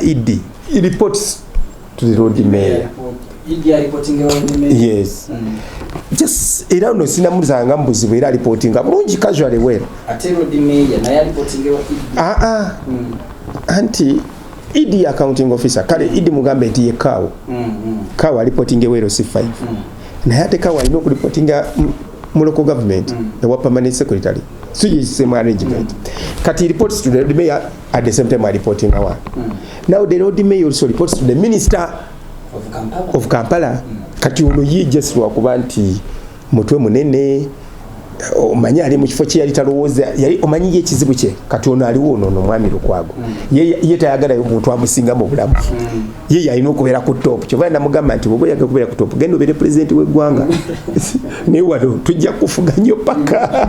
Idi reports to the road mayor yes mm. just era ono sinamuzanga mubuzibu era alipotinga bulungi casually well aa ah, ah. mm. anti idi accounting officer kale idi mugambe nti yekaawo mm, kawa alipotinga ewero si 5 naye ate kawa alina okulipotinga mu local government ewa permanent secretary so is same arrangement kati reports to the mayor at the same time alipotinga wa mm. now the road may also reports to the minister of kampala, of kampala. Mm. kati ono ye just lwakuba nti mutwe munene omanyi ali mu kifo kye yali talowooza yali omanyi ye ekizibu kye kati ono aliwo ono ono omwami lukwago mm. ye tayagalayo omuntu amusinga mu bulamu mm. ye yalina okubeera ku top kyova namugamba nti bwoba oyagala okubeera ku top genda obeere pulezidenti w'eggwanga naye wano tujja kufuga nnyo paka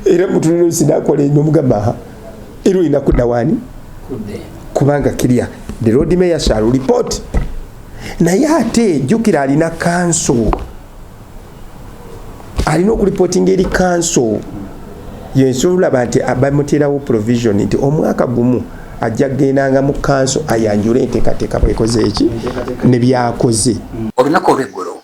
era mutuliro sinakola enyo mugamba era olina kudda waani kubanga kirya the road mayor shall report naye ate jukira alina kanso alina okulipotinga eri kanso yensolaba nti bamuterawo provision nti omwaka gumu ajja kugendanga mu kanso ayanjule enteekateeka bwekoze eki nebyakoze olunaku olweggulo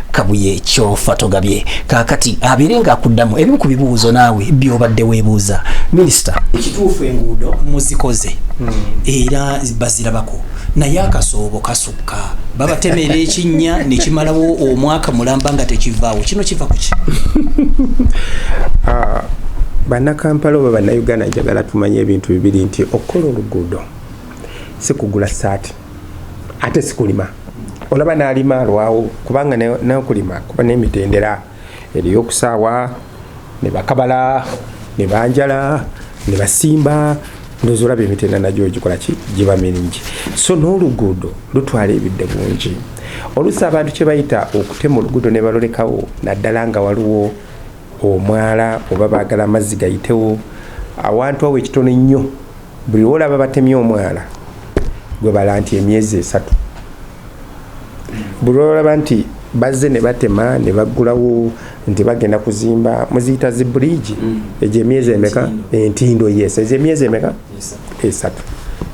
kabuye kyofa togabye kakati abeere nga akuddamu ebimu ku bibuuzo naawe byobadde weebuuza minisita ekituufu enguudo muzikoze hmm. era bazirabako naye akasoobo kasukka babatemera ekinnya nekimalawo omwaka mulamba nga tekivaawo kino kiva kuki ah, bannakampala oba bannayuganda njagala tumanye ebintu bibiri nti okukola oluguudo sikugula saati ate sikulima olaba nalima alwawo kubanga nokulima kuba nemitendera eriyo okusaawa nebakabala nebanjala nebasimba ndozi olaba emitenda nagyo gikolaki giba miringi so n'oluguudo lutwala ebidde bungi olusi abantu kyebayita okutema oluguudo nebalolekawo naddala nga waliwo omwala oba bagala amazzi gayitewo awantu awo ekitono ennyo buli wolaba batemye omwana gwe bala nti emyezi esatu buli wolaba nti bazze ne batema ne baggulawo nti bagenda kuzimba muziyita zi bridge mm. egyo emyezi emeka entindo yes egyo emyezi emeka esatu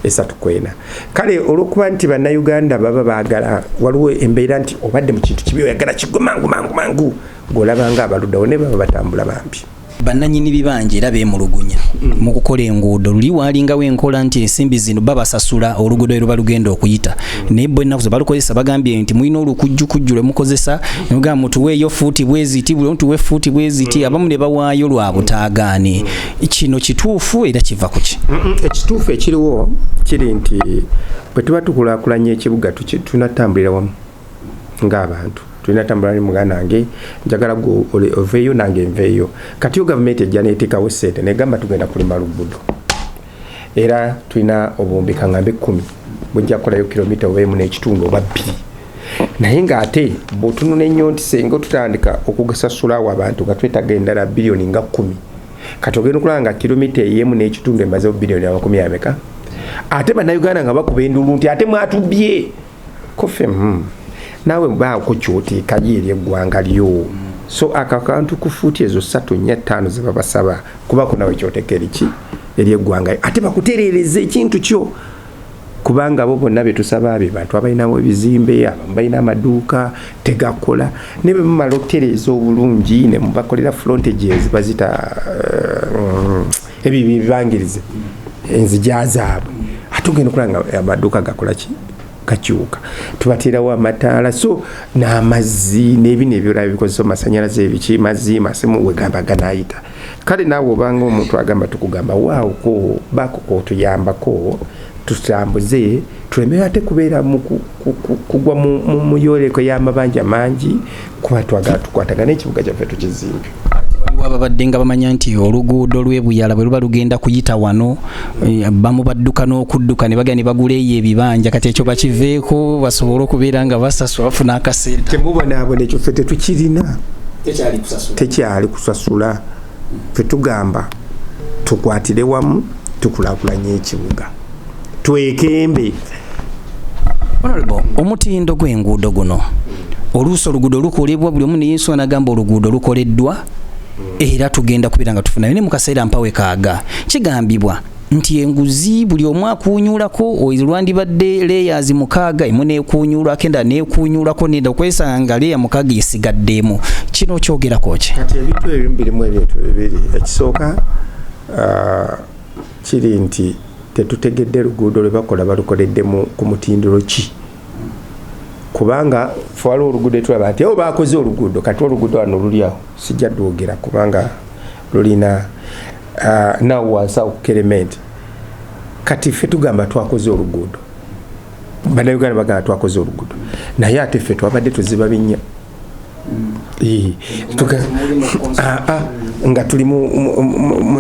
esatu kwena kale olwokuba nti bannayuganda baba baagala waliwo embeera nti obadde mu kintu kibi oyagala kigwe mangu mangu mangu gweolabanga abaluddawo ne baba batambula bambi bannanyini bibanja era beemulugunya mm. mu kukola enguudo luli waalingawo enkola nti ensimbi zino babasasula oluguudo eruba lugenda okuyita mm. naye bo ennaku zebalukozesa bagambye nti mulina olukujjukujju lwe mukozesa nemugamba mutuweeyo fuuti bweziti buli omutuwe fuuti bweziti mm. abamu ne bawaayo lwa butaagaane kino kituufu era kiva ku ki ekituufu ekiriwo kiri nti bwe tuba tukulaakulanya ekibuga tunatambulira wamu ng'abantu tulina tambula ne muganda wange njagala gwe oveeyo nange nveeyo kati yo gavumenti ejja neeteekawo ssente negamba tugenda kulima lugudo era tulina obuwumbi kaŋambe kkumi bujja kukolayo kilomita oba emu n'ekitundu oba bbiri naye ng'ate bwotununa ennyo nti senga otutandika okugasasulawo abantu nga twetaga endala biliyoni nga kkumi kati ogenda okulaba nga kilomita eyemu n'ekitundu emazewo biliyoni amakumi ameka ate bannayuganda nga bakuba endulu nti ate mwatubbye kuffe mm. naawe baako kyoteekayo eri eggwanga lyo so akakantu ku fuuti ezo satu nya ttaano ze babasaba kubako nawe kyoteeka eriki eri eggwanga ate bakutereereza ekintu kyo kubanga abo bonna betusaba be bantu abalinawo ebizimbe abamu balina amaduuka tegakola naye bemumala okutereeza obulungi ne mubakolera frontages bazita eh, ebyo bibangirize enzija zaabwe ate ogenda okulaba nga amaduuka gakola ki gakyuka tubateerawo amataala so n'amazzi n'ebino ebirala bikozesa omasanyalaze ebiki mazzi masimu wegamba ganayita kale naawe obanga omuntu agamba tukugamba waawoko bakuka otuyambako tutambuze tuleme ate kubeera kugwa mu yoleko y'amabanja mangi kuba twagala tukwatagana ekibuga kyaffe tukizimbe waliwo ababadde nga bamanya nti oluguudo lwebuyala bwe luba lugenda kuyita wano eh, bamu badduka n'okudduka ne bagenda ne bagula eyo ebibanja kati ekyo bakiveeko basobole okubeera nga basasula bafuna akasente temubonaabona ekyo ffe tetukirina tekyali kusasula ffe tugamba tukwatire wamu tukulakulanya ekibuga twekembe omutindo gw'enguudo guno oluusi oluguudo lukolebwa buli omu neyesu anagamba oluguudo lukoleddwa era tugenda kubeera nga tufunayo ne mukaseera mpawe kaaga kigambibwa nti enguzi buli omu akuunyuulako olwandibadde layers mukaaga emu neekuunyuulako endala neekuunyuulako nenda okwesanga nga leya mukaaga esigaddeemu kino okyogerako ki kati ebintu ebimu birimu ebintu bibiri ekisooka uh, kiri nti tetutegedde luguudo lwe bakola balukoledde ku mutindiro ki kubanga waliwo oluguudo etulaba nti eo bakoze oluguudo kati oluguudo wano luli awo sijja dwogera kubanga lulina uh, nawo wansi awo kukerementi kati ffe tugamba twakoze oluguudo banauganda bagamba twakoze oluguudo naye ate ffe twabadde tuziba binnya ah, ah, nga tuli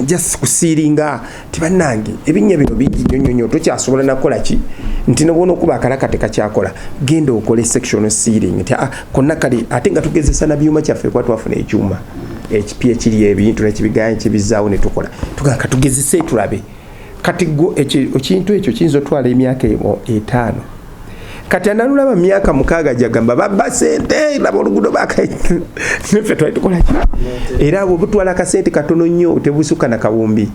just kusiiringa ti bannange ebinnya bino bingi nyo nyo nyo tokyasobola nakola ki nti nobona okuba akalaka tekakyakola genda okole section searing nti ah, konna kale ate nga tugezesa na byuma kyaffe kuba twafuna ekyuma ekipya ekiri ebintu nekibigaya nkibizaawo netukola tugaa katugezese tulabe kati gwo ekintu ekyo kiyinza otwala emyaka etaano kati analulaba myaka mukaaga jagamba babba sente laba oluguudo bakanefe twali tukolaki era abo butwala akasente katono nnyo tebusuka na kawumbi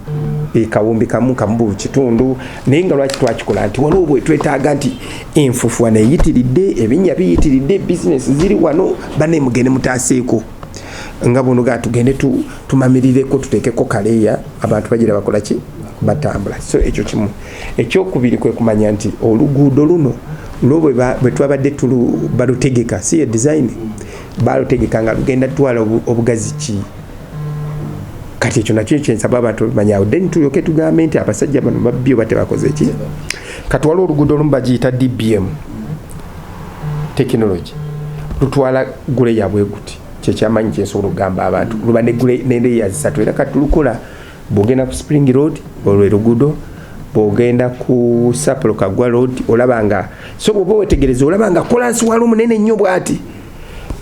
e, kawumbi kamu kamubu kitundu naye nga lwaki twakikola nti waliwo bwetwetaaga nti enfufuwa neyitiridde ebinya biyitiridde bizinesi ziri wano banemugende mutaaseeko nga buno ga tugende tu, tumamirireko tuteekeko kaleeya abantu bagira bakola ki batambula so ekyo kimu ekyokubiri kwe kumanya nti oluguudo luno no bwe twabadde balutegeka si ye design balutegeka nga lugenda twala obugazi ki kati ekyo nakyo kyensaba abantu bamanyawo then tulyoke tugambe nti abasajja bano babbi oba tebakoze ki kati waliwo oluguudo olumu bagiyita dbm tekinologi lutwala gule yabwe guti kyekyamanyi kyensobola okugamba abantu luba nende yazisatu era kati lukola bwogenda ku spring road olwo erugudo bwogenda ku sapolo kagwa road olaba nga so bwoba wetegereza olaba nga kolansi wali omunene nnyo bwati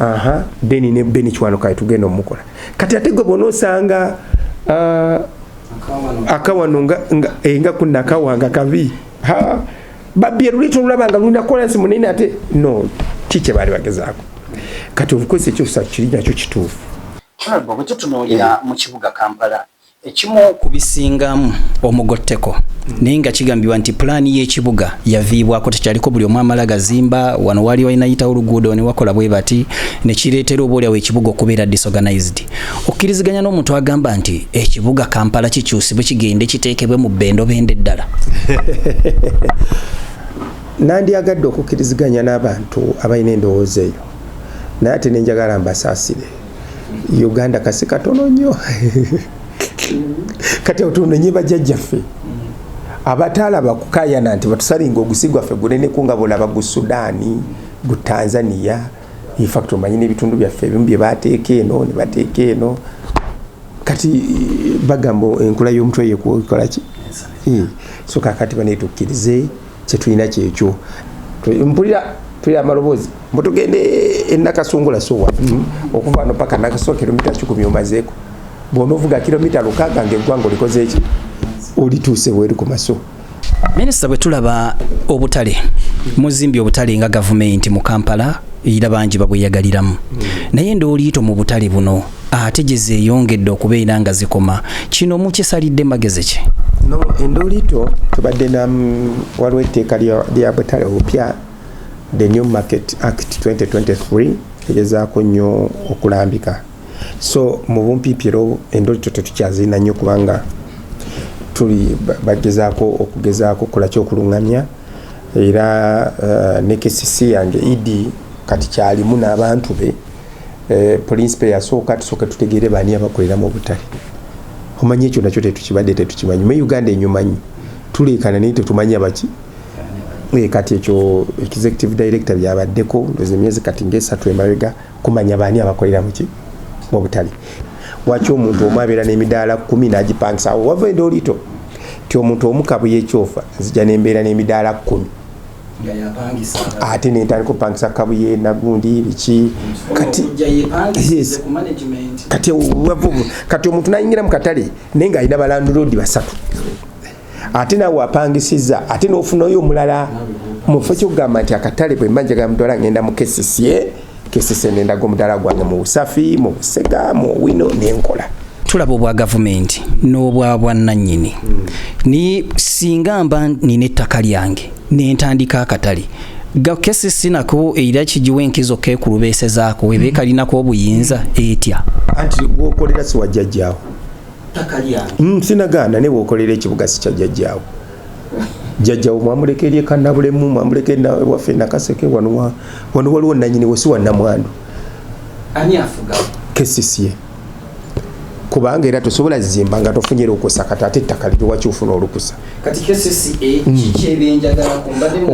aha deni ne beni kiwano kaye tugenda omukola kati ate gwe bona osanga uh, akawano nga, nga, eh, nga kunakawa nga kabi ha babbye luleta olulaba nga lulina kolansi munene ate no ki kye baali bagezaako kati obukozesa ekyosa kiri nakyo kituufu kyobo bwe tutunuulira eh. mu kibuga kampala ekimu ku bisingamu omugotteko naye nga kigambibwa nti pulaani y'ekibuga yaviibwako tekyaliko buli omu amala gazimba wano waali walinayitawo oluguudo ne wakola bwe bati ne kireetera obaolyawo ekibuga okubeera disorganized okkiriziganya n'omuntu agamba nti ekibuga kampala kikyusibwe kigende kiteekebwe mu bendobende ddala nandyagadde okukkiriziganya n'abantu abalina endowooza eyo naye ate nenjagala mbasaasire uganda kasi katono nnyo kati otunonye bajjajjaffe abataalaba kukayana nti batusalinga ogusi gwaffe guneneku nga bulaba gu sudaani gu tanzania in fact omanyi n'ebitundu byaffe ebimu bye baateeka eno ne bateeka eno kati eh, bagamba enkula y'omutwe yekola ki eh, so kakati banaye tukkirize kyetulina kyekyo mpulira tuli amaloboozi mutugende enakasungula sowa mm, okuva no paka nakasoa kilomita kikumi omazeeko bwonovuga kilomita lukaaga ngaeggwanga olikozeeki olituuse bweri ku maso Minister bwe tulaba obutale muzimbi obutale nga gavumenti mu Kampala era bangi babweyagaliramu naye ndooliito mu butale buno ate gye zeeyongedde okubeera nga zikoma kino mukisalidde magezi ki no endooliito tubadde na waliwo etteeka lya butale obupya the new market act 2023 egezaako nnyo okulambika so mu bumpiipi era endolito tetukyazirina nnyo kubanga tuli bagezaako okugezaako okulaki okulungamya era eh, ne kcc yange ed kati kyalimu n'abantu be eh, pulinsipe yasooka tusooke tutegeere baani abakolera mu butale omanyi ekyo nakyo tetukibadde tetukimanyi me uganda enyumanyi tuleekana naye tetumanya baki eh, kati ekyo executive director byabaddeko emyezi kati ngaesatu emabega kumanya baani abakolera muki mubutale waki omuntu omu abeera n'emidaala kumi n'agipangisa awo wava enda oliito ti omuntu omu kabuye ekyofa nzija nembeera n'emidaala kumi ate nentandika opangisa kabuye nagundi biki kati omuntu nayingira mu katale naye nga alina balanduloodi basatu ate nawe apangisiza ate nofunayo omulala mufe kyokugamba nti akatale bwemba njaga mudwala ngenda mukesisye kesise nendaga omudala gwange mu busafi mu busega mu wino nenkola tulaba obwa gavumenti n'obwa bwannanyini naye singa mba nina ettaka lyange nentandika akatale gakesi sinako era kigiwa enkizo kekulubeesezaako eba ekalinako obuyinza etya anti gwokolera siwajjajjaawo Mm, sinagaana ne bwokolera ekibuga sikya jajjaawo jajjawo mwamuleka eri ekanabulemu mwamuleka waffe nakaseke wano waliwo nanyini wesi wanamwandu kesisie kubanga era tosobola zimba nga tofunye lukusa kati ate ettaka liri waki ofuna olukusa mm.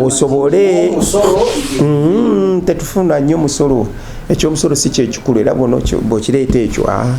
osobole mm, tetufuna nnyo musolo ekyomusolo si kyekikulu era bwokireeta ekyo ah.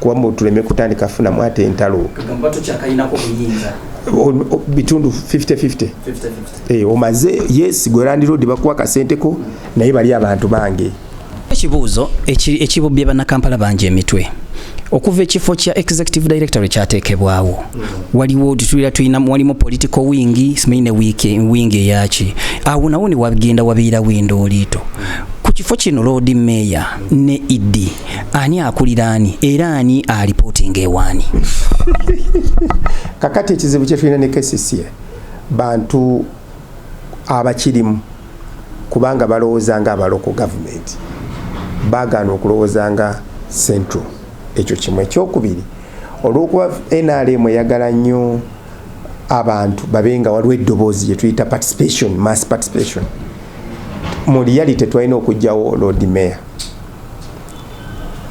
kuba mbu tuleme kutandika funamu ate entalo bitundu 5050 eh, omaze yes gwerandirodi bakuwa kasenteko naye bali abantu bange ekibuuzo ekibubbye bannakampala bangi emitwe okuva ekifo kya executive director ekyateekebwawo mm. waliwo tutulira tulina walimu political wing simanyi ne wing eyaki awo nawo ne wagenda wabeera winda oliito ku kifo kino loodi meeya ne ed ani akulira ani era ani alipotinga ewaani kakati ekizibu kyetulina ne kcca bantu abakirimu kubanga balowooza nga abaloko gavumenti bagaana okulowooza nga central ekyo kimu ekyokubiri olwokuba nrm eyagala nnyo abantu babe nga waliwo eddoboozi gyetuyita participation mass participation mu reality twalina okugjawo lord mayor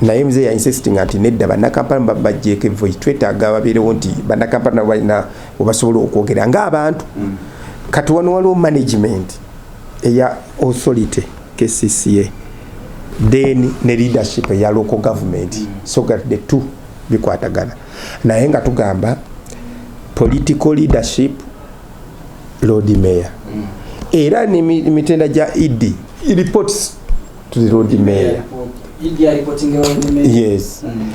naye mzee ya insisting ati nedda bannakampala mubajjeeko evvoyi twetaaga babeerewo nti bannakampala nabo balina webasobola okwogera ng'abantu mm. kati wano waliwo management eya authority kcca then ne leadership eya local government mm. so that the two bikwatagana naye nga tugamba political leadership lord mayor mm. era nemitenda gya ed reports to the road mayor yes mm.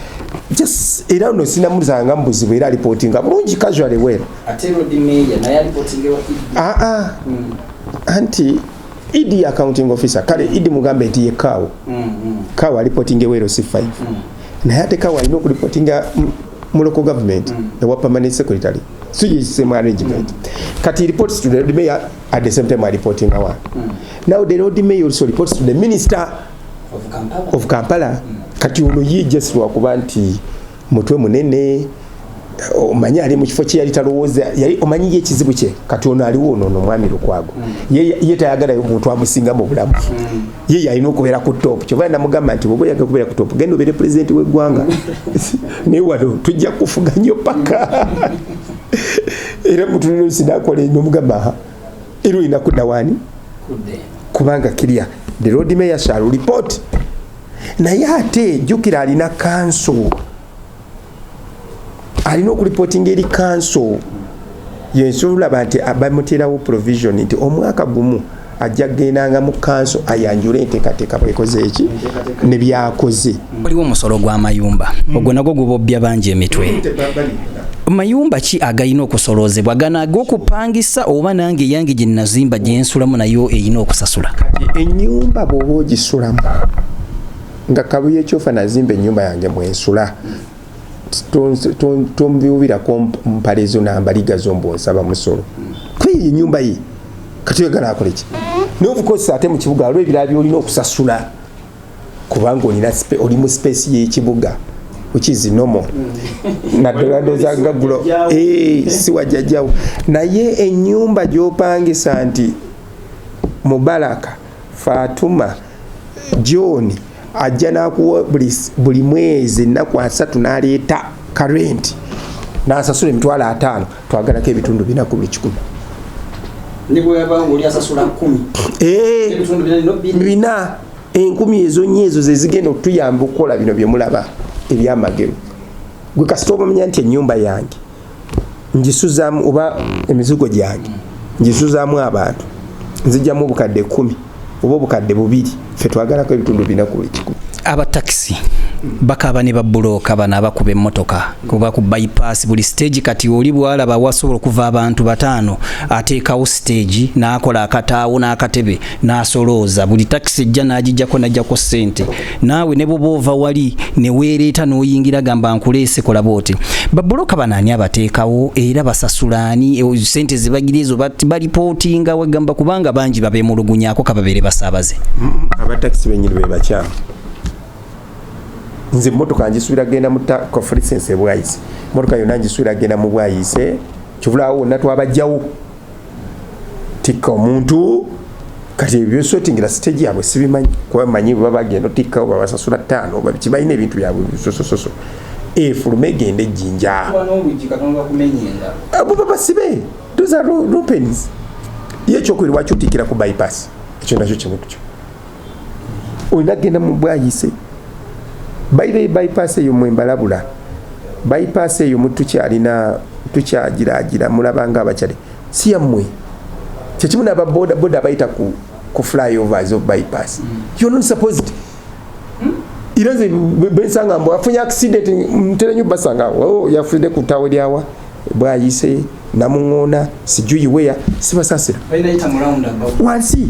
just era no sinamuzanga mbuzibu era reporting bulungi casually well ate road mayor naye reporting ewa ah ah mm. anti ed accounting officer kale ed mugambe nti ye kawo mm, mm. kawo alipotinga ewero si 5 mm. naye ate kawo alina okulipotinga mu local government mm. ewa permanent secretary so ye same arrangement mm. kati reports to the mayor at the same time alipotinga wa mm. now the road may also reports to the minister of kampala, of kampala. Mm. kati ono ye just lwakuba nti mutwe munene omanyi ali mu kifo kye yali talowooza yali omanyi ye ekizibu kye kati ono aliwo ono ono omwami lukwago mm. ye tayagalayo omuntu amusinga mu bulamu mm. ye yalina okubeera ku top kyova namugamba nti bwoba oyagala okubeera ku top genda obeere pulezidenti w'eggwanga naye wano tujja kufuga nnyo paka era mutuliro sinakola enyo mugamba era olina kudda waani kubanga kirya the road mayor shall report naye ate jukira alina kanso alina okulipotinga eri kanso yensola olaba nti bamuteerawo provision nti omwaka gumu ajja kugendanga mu kanso ayanjule enteekateeka bwekoze eki ne byakoze waliwo omusolo gw'amayumba ogwo nagwo gubobbya bangi emitwe mayumba ki agalina okusoloozebwa gano ag'okupangisa oba nange eyange gye nazimba gye nsulamu nayo erina okusasula ennyumba bw'oba ogisulamu nga kabuye kyofa nazimba ennyumba yange mwensula tombiwubirako mpale zo nambaliga zo mbu nsaba musolo kweyo enyumba ye kati oyagala akoleki naye obukozesa ate mu kibuga waliwo ebirala byolina okusasula kubanga olina oli mu space y'ekibuga which is normal mm. naddala ndoza nga gulo eh, siwajjajawo naye enyumba gyopangisa nti mubaraka fatuma john ajja nakuwa buli mwezi ennaku asatu naleeta karenti nasasula emitwalo ataano twagalako ebitundu bina ku buli kikumi eh, bina enkumi ezo nyo ezo zezigenda okutuyamba okukola bino byemulaba ebyamagero gwe kasita obamanya nti enyumba yange njisuzamu oba emizigo gyange njisuzamu abantu nzijamu obukadde kumi oba obukadde bubiri fe twagalako ebitundu bina ku buli kikumi abatakisi bakaba ne babuloka bano abakuba emmotoka kuba ku bypass buli stage kati oli bwalaba wasobola okuva abantu bataano ateekawo stage n'akola akataawo n'akatebe n'asolooza buli takisi ejja n'agijjako n'ajjako ssente naawe ne bwoba ova wali ne weereeta n'oyingira gamba nkuleese kola booti babuloka bano ani abateekawo era basasula ani e, ssente zibagiri ezo balipootinga wegamba kubanga bangi babeemulugunyako kababeere basaabaze abatakisi benyini be bakyamu nze mmotoka njisuubira genda mu conference ebwayise mmotoka yonna njisuubira genda mu bwayise kivulaawo wonna twabajjawo tikka omuntu kati ebyo byesotingira siteji yabwe sibimanyi kuba manyi bwe babagenda otikkawo babasasula ttaano babiki balina ebintu byabwe bisosososo efulume egenda ejjinja abo babasibe those are rupens ye ekyokuiri lwaki otikkira ku bypass ekyo nakyo kimu kyo olina genda mu bwayise baibeyi bypass eyo mwe mbalabula bypass eyo mutukyalina tukyagiragira mulabanga abakyali si yammwe kyekimu nababodaboda abayita ku, ku flyovers of bypass mm. you're not supposed hmm? era nze bensanga mbu afunye accident mterenyo basanga oh, yafudde ku tawe lyawa bwayise namuŋona sijuyiweya sibasasira wansi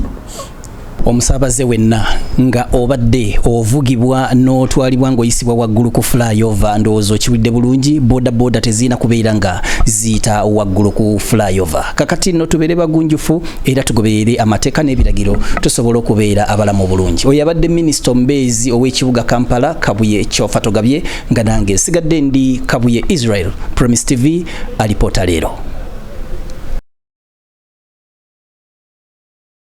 omusaabaze wenna nga obadde ovugibwa n'otwalibwa ng'oyisibwa waggulu ku flyover ndowooza okiwulidde bulungi boda boda tezirina kubeera nga ziyita waggulu ku flyover kakati nno tubeere bagunjufu era tugoberere amateeka n'ebiragiro tusobola okubeera abalamu bulungi oyo abadde minisita omubeezi ow'ekibuga kampala kabuye kyofa togabye nga nange sigadde ndi kabuye israel promis tv alipoota leero